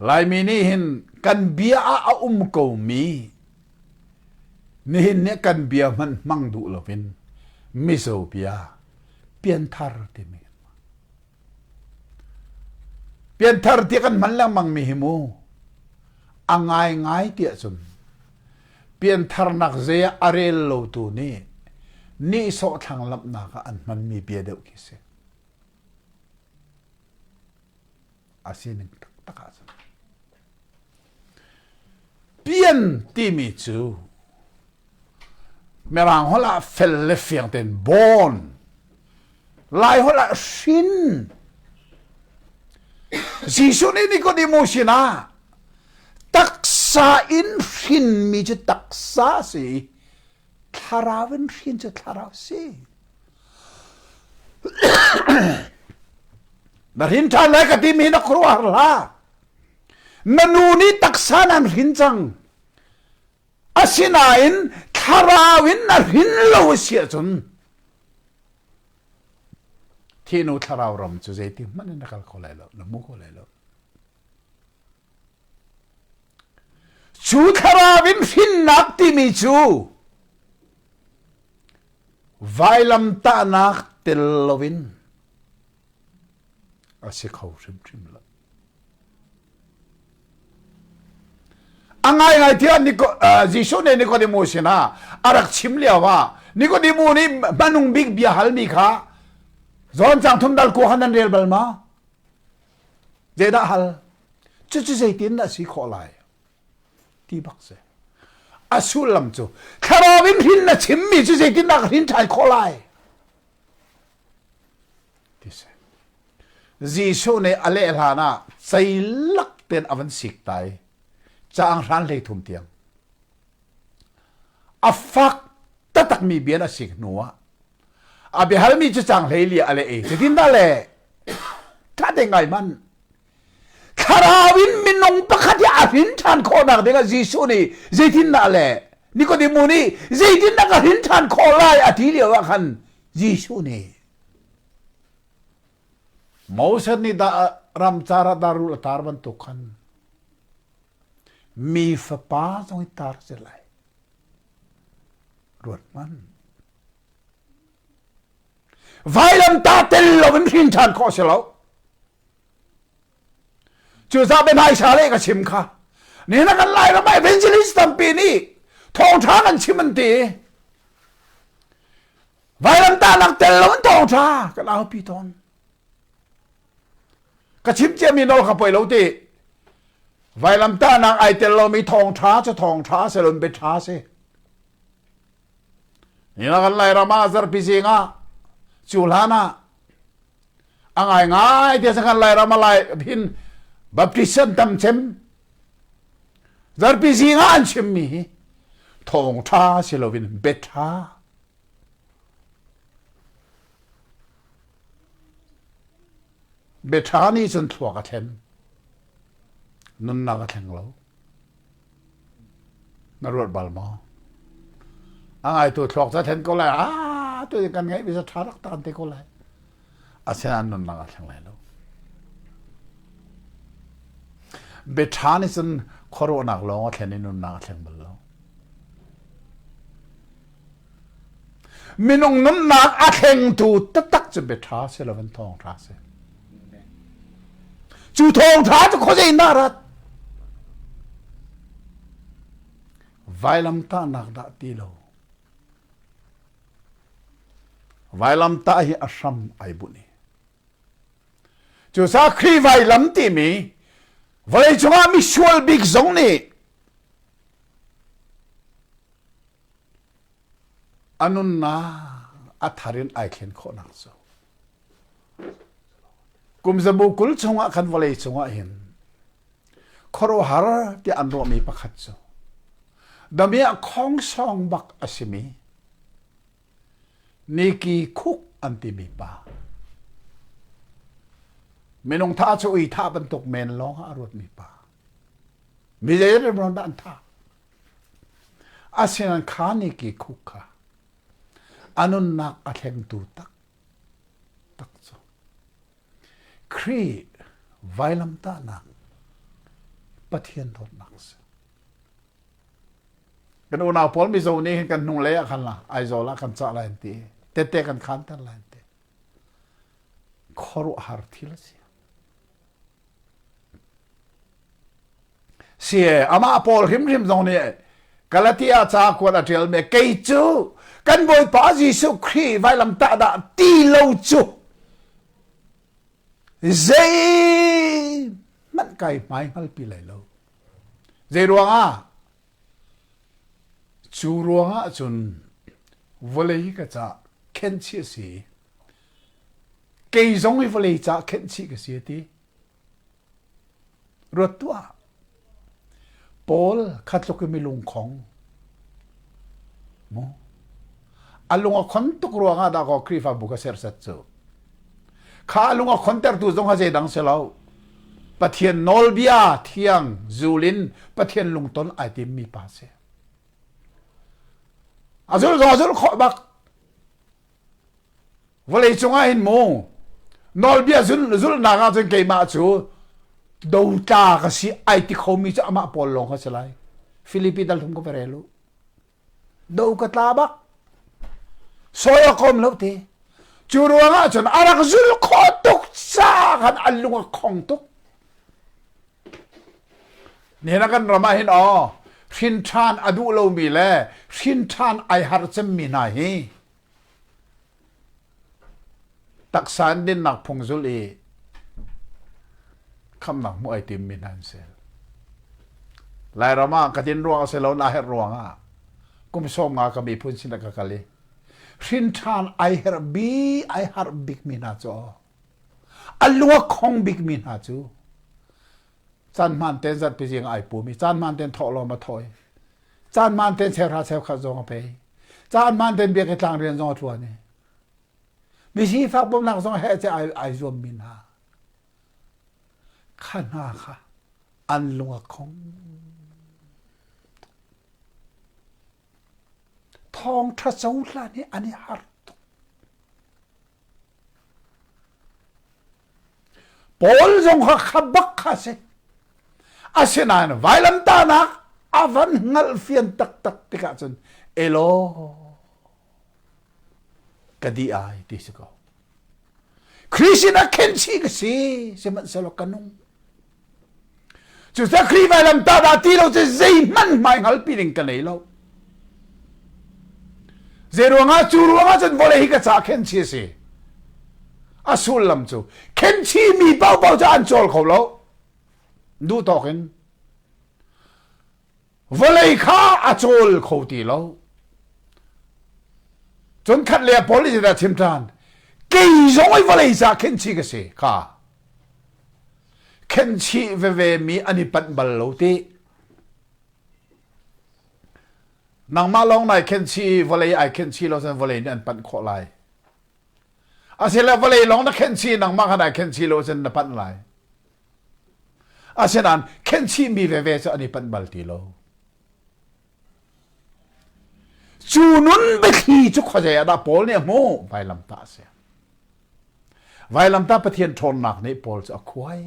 Laimi nih hin kan bia ah a um komi nihin nih kan bia hmanh hmang duh loin mizo bia pianthar timi Pianthar ti kan hman lengmangmi hi mu a ngaingai tiah cun piantharnak zei ah a rel lotu nih nihsawh thlanglamhnak ah an hmanmi bia deuh khi si. A sining taktak ahcun. Pian timi cu Mirang holh ah fel le fiang tein born, Lai holh ah hrin. Jesuh nih Nikodemo sinah taksa in hrinmi cu taksa a si i thlarau in hrin cu thlarau a si. Na hrin ṭhan lai ka timi hi na khuaruahhar hlah. na nu nih taksa nan hrin cang asinain thlarau in na hrin lo a si ahcun thinu thlarau ram cu zeitik hmanh in na kal kho lai lo na hmu kho lai lo cu thlarau in hrinnak timi cu vailamtahnak tel loin a si kho hrimhrim lo. A ngaingai tiah Jesuh nih Nikodemo sinah a rak chim lio ah Nikodemo nih hmanung bik bia halmi kha John chang thum dal ku han an rel bal ma? Zeidah hal? Cucu zeitin a si khawh lai? Ti bak se. A sullam cu thlarau in rin na chimmi cu zeitindah rin ṭhai khawh lai? Jesuh nih a leh hlan ah ceilak tein a van sik ta i caang hran hlei thum tiang a fak takmi bia a sik hnu ah a biahalmi cu caang hlei li a leh i cutin dah le ṭha te ngai man Thlarau in minung pakhat hi a hrin ṭhan khawhnak dingah Jesuh nih zeitindah a leh? Nikodemu nih zeitindah ka hrin ṭhan khawh lai a ti lio ah khan Jesuh nih Moses nih dah ramcar ah darul a tar bantuk khan mi fapa zong hi tar si lai ruathmanh vailam ta tel lo in hrin ṭhan khawh si lo cu sa pe nai sha le ka chim kha ni na kan lai ram evangelist tampi nih thawngtha kan chim an ti vailamta nak tel lo an thawngtha kan au pi ton ka chim cia mi nol ka poi lo ti vailamta nak ai tel lo mi thawngtha chu thawngtha se lon be tha se ni na kan lai rama zar pi zinga culhana a ngai ngai te sakhan lai rama lai phin baptism tam chem zarpi zinga an chim mi hi thong tha si lovin bet tha betha ni cun thluak a thlem nunnak a thleng lo Na ruat bal maw? A ngaitu thluak cu a then ko lai. Ah, tu kan ngaih mi cu tha rak taan te ko lai. Asinain nunnak a thleng lai lo. Biaṭha nih cun khuaruahnak lawng a thlen i nunnak a thleng bal lo. Minung nunnak a thlengtu taktak cu biaṭha si lo in thawngṭha si. Cu thawngṭha cu khuazei dah rat? Vailamtahnak dah ti lo. Vailamtah hi a hram ai bunh i. Cu sakhi vailam timi vawlei cungah misual bik zong nih a nunnak a thar in ai thlen khawhnak cu kum zabu kul chungah khan vawlei cungah hin khuaruahhar tiah an ruahmi pakhat cu damiah khongsong bak a simi niki khuk an timi pa minung tha cu ui tha bantuk men lawng ah a ruatmi pa Milei remron dah an tha. Asin an kha ni ki khuk kha a nunnak a thlengtu tak tak cu Khrih vailamtahnak Pathian dawtnak si. Kan unau pawl mizo nih hin kan hnung lei ah khan la Aizawl ah kan cah lai an ti tete kan khan ter lai an ti khuaruah har thil a si Si amah Paul hrimhrim zong nih Galatia ca kuat a ṭial mi kei cu kan Bawipa Jesuh Khrih vailamtah dah ti lo cu zei hmanh kai hmai hngal pi lai lo zei ruangah cu ruangah cun vawlei ka ca khenchi a si kei zong hi vawlei caah khenhchih ka si a ti ruat tuah paul kha tluk in mi lungkhong mu a lung a khon tuk ruang ah dah ko khrihfabu ka sersat cu kha a lung a khon tertu zong ha dang se lo pathian nawlbia thiang zulin pathian lungton ai tim mi pa si azul zong azul kho bak vawlei cungah hin mu nawlbia zulhnak ah cun keimah cu dotla ka si ai ti khomi cu amah pawl lawng ka si lai filipi dal thum ka va rel u do ka tla bak soya kom lo te cu ruangah cun a rak zul kho tuk sa khan a lung a khong tuk Nihin a kan ram ah hin aw hrinṭhan a duh lomi le hrinṭhan ai har cemmi hna hi taksa in dinnak phung zul i khamnak hmuh ai timmi hna an si. Lairam ah ka din ruang a si lo na herh ruang ah kum sawm nga ka miphun sin ka kal i hrinṭhan ai herh bi ai harh bikmi hna cu a luakhong bikmi hna cu caan hmaan ten zat pi zing ai pum i caan hmaan ten thawh lawm a thawi caan hmaan ten chehra cheu khat zong a pei caan hmaan ten biak i tlang rian zong a tluan i misi fak bawmnak zong he che ai ai zuam min ha kha hna kha an lung a khong thong tha so hlan hi an i har Paul zong kha kha bak kha si asinain vailamtahnak a van hngalh fian taktak tikah cun elo ka di ai ti si ko Christian a khen si ka si sihmanhsehlaw ka nung cu sakhi vailam ta dah ti lo cu zeihmanh hmai hngalpi ding ka nei lo zei ruangah cu ruangah cun vole hi ka ca khenchi a si a sullam cu khenchi mi paohpaoh cu an cawl kho lo duh tawk in vawlei kha a cawl kho ti lo cun khat le pol i cita chim ṭan kei zong i vawlei sa khenchi ka si ka Khenhchih vevemi an i panh bal lo ti. Nangmah lawng nai khenhchih i vawlei ai khenhchih lo cun vawlei nih an panh khawh lai. Asile vawlei lawng na khenhchih nangmah khan ai khenhchih lo cun na panh lai. Asinain khenhchihmi veve cu an i panh bal ti lo. Cu nun biathli cu khuazei ah dah Paul nih a hmuh? Vailamtah a si. Vailamtah Pathian ṭhawnnak nih Paul cu a khuai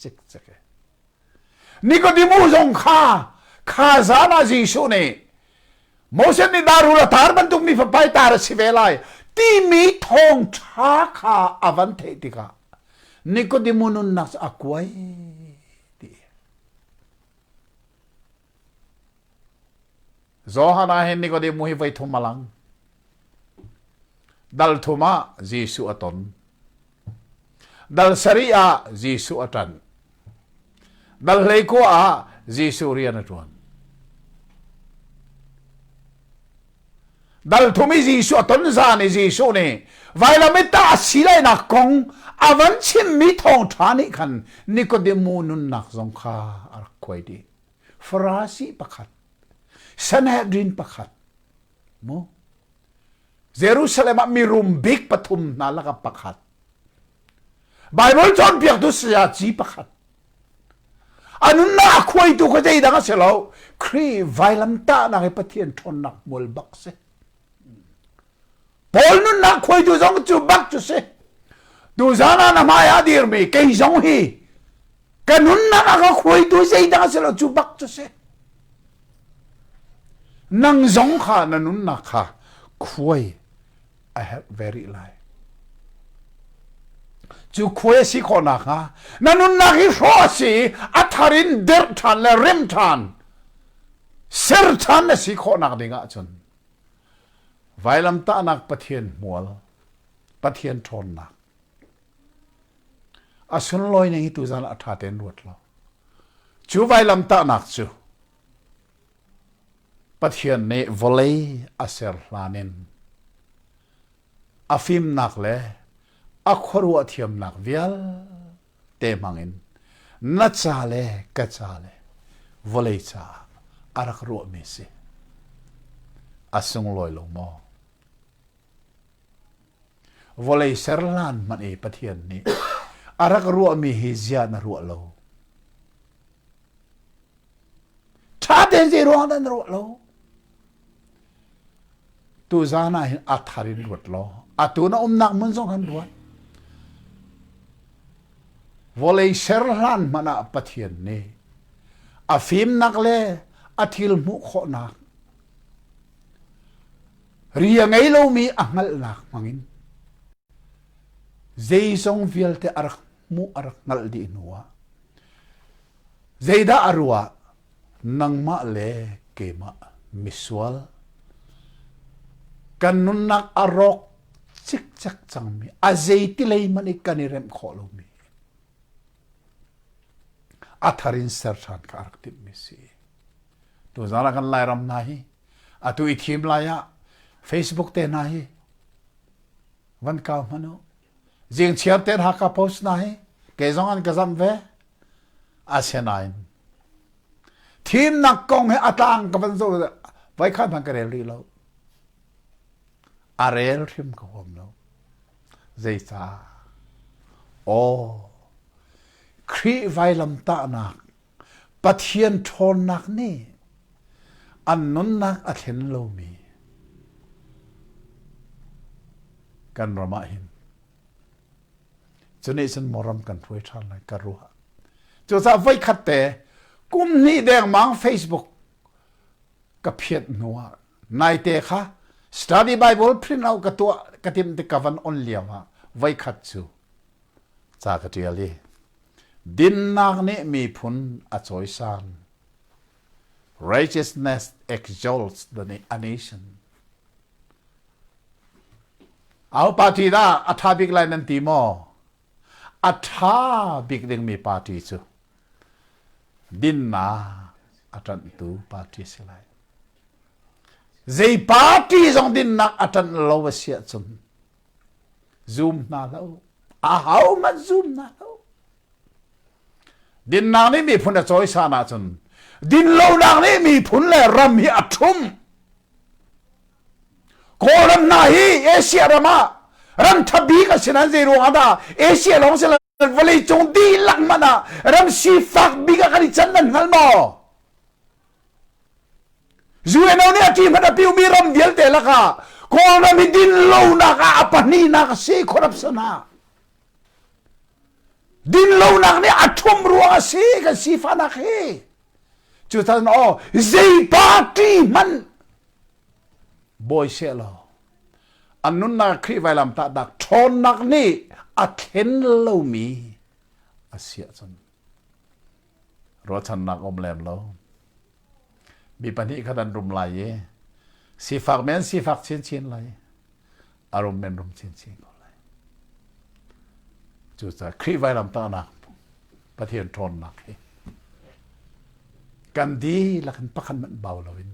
cikcik. Nikodimu zong kha kha zan ah Jesuh nih Moses nih darul a tar bantuk mi fapai tar a si ve lai timi thawngṭha kha a van theih tikah Nikodimu nunnak cu a kuai ti. Johan ah hin Nikodemu hi voi thum a lang. Dal thum ah Jesuh a ton. Dal sari ah Jesuh a tan. Dal hlei kua ah Jesuh rian a tuan. Dalthum i Jesuh a ton zan i Jesuh nih vailam i tah a si lainak kong a van chimmi thawngṭha nih khan Nikodemu nunnak zong kha a rak khuai dih. Farasi pakhat, Sanhedrin pakhat, mu Jerusalem ah mirum bik pathum hna lakah pakhat, Baibal cawnpiaktu sayaci pakhat, a nunnak khuaitu kha zeidang a si lo Khrih vailamtahnak i Pathian ṭhawnnak hmual bak si Paul nunnak khuaitu zong cu bak cu si tuzan ah na hmai ah dirmi kei zong hi ka nunnak a ka khuaitu zeidang a si lo cu bak cu si nang zong kha na nunnak kha khuai a herh ve rih lai. Cu khua a si khawh nakhnga na nunnak hi hrawh a si i a thar in derh ṭhan le rem ṭhan ser ṭhan na si khawh nak ding ahcun vailamtahnak Pathian hmual Pathian ṭhawnnak a sunlawi ning hi tuzan a ṭha ten ruat law cu vailamtahnak cu Pathian nih vawlei a ser hlan in a fimnak le a khuaruah thiamnak vialte hmangin na ca le ka ca le vawlei caah a rak ruahmi si. A sunglawi lo maw? Vawlei ser hlan hmanh i Pathian nih a rak ruahmi hi ziah na ruah lo? ṭha tein zei ruang dah na ruah lo tu zan ah hin a thar in ruat law atu na umnak mun zong kan ruat vawlei ser hlan hmanh ah pathian nih a fimnak le a thil hmuh khawhnak ri a ngei lomi a hngalhnak hmangin zeizong vialte a rak hmuh a rak hngalh dih hnu ah Zeidah a ruah? Nangmah le keimah misual. Kan nunnak a rawk cikcek cangmi, a zeiti lei hmanh i kan i remh khawh lomi, a thar in ser ṭhan kha a rak timhmi si. Tuzan ah kan Lairam hna hi, atu i thim lai ah Facebook te hna hi, van kau hmanh u, Jengchiar te Hakha Post hna hi kei zong an ka zamh ve. Asinain thimnak kong hi a tlang ka van zoh vai khan hman ka rel rih lo. A rel hrim ka huam lo. Zeicah? Aw, Khrih vailamtahnak Pathian ṭhawnnak nih an nunnak a thlen lomi kan ram ah hin cu nih cun maw ram kan hruai ṭhan lai ka ruah cucaah voikhat te kum hnih dengmang Facebook ka phiat hnu ah Naite kha Study Bible print out ka tuah ka timh tik ka van on lio ah voikhat cu ca ka ṭial i dinnak nih miphun a cawisan righteousness exalts the a nation au party dah a ṭha bik lai nan ti maw a ṭha bik dingmi party cu dinnak a ṭanhtu party a si lai. Zei party zong dinnak a ṭanh lo a si ahcun zum hna lo. A hohmanh zum hna lo. Dinnak nih miphun a cawisan ahcun din lonak nih miphun le ram hi a ṭhum. Kawlram hna hi Asia ram ah ram tha bik a si nan zei ruang ah dah Asia lawng si lo vawlei cung dihlak man ah ram sifak bik ah kan i can nan hngal maw? UNO nih a ṭi hmanh a piumi ram vialte lakah Kawlram hi dinlonak ah a pahnihnak a si corruption ha. Dinlonak nih a ṭhum ruang a si kan sifahnak hi. Cutan aw zei party hmanh bawi se law an nunnak Khrih vailam tah dak ṭhawnnak nih a thlen lomi a siah cun ruahchannak um lem lo mi pahnih khat an rum lai i sifak men sifak chinchin lai Arum men rum chinchin ko lai. Cucaah Khrih vailam tahnak Pathian ṭhawnnak hi kan dihlak in pakhat hmanh bau lo in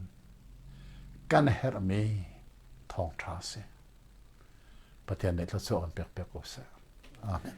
kan herhmi thawngṭha si. Pathian nih thluachuah kan pek pek ko seh. Amen.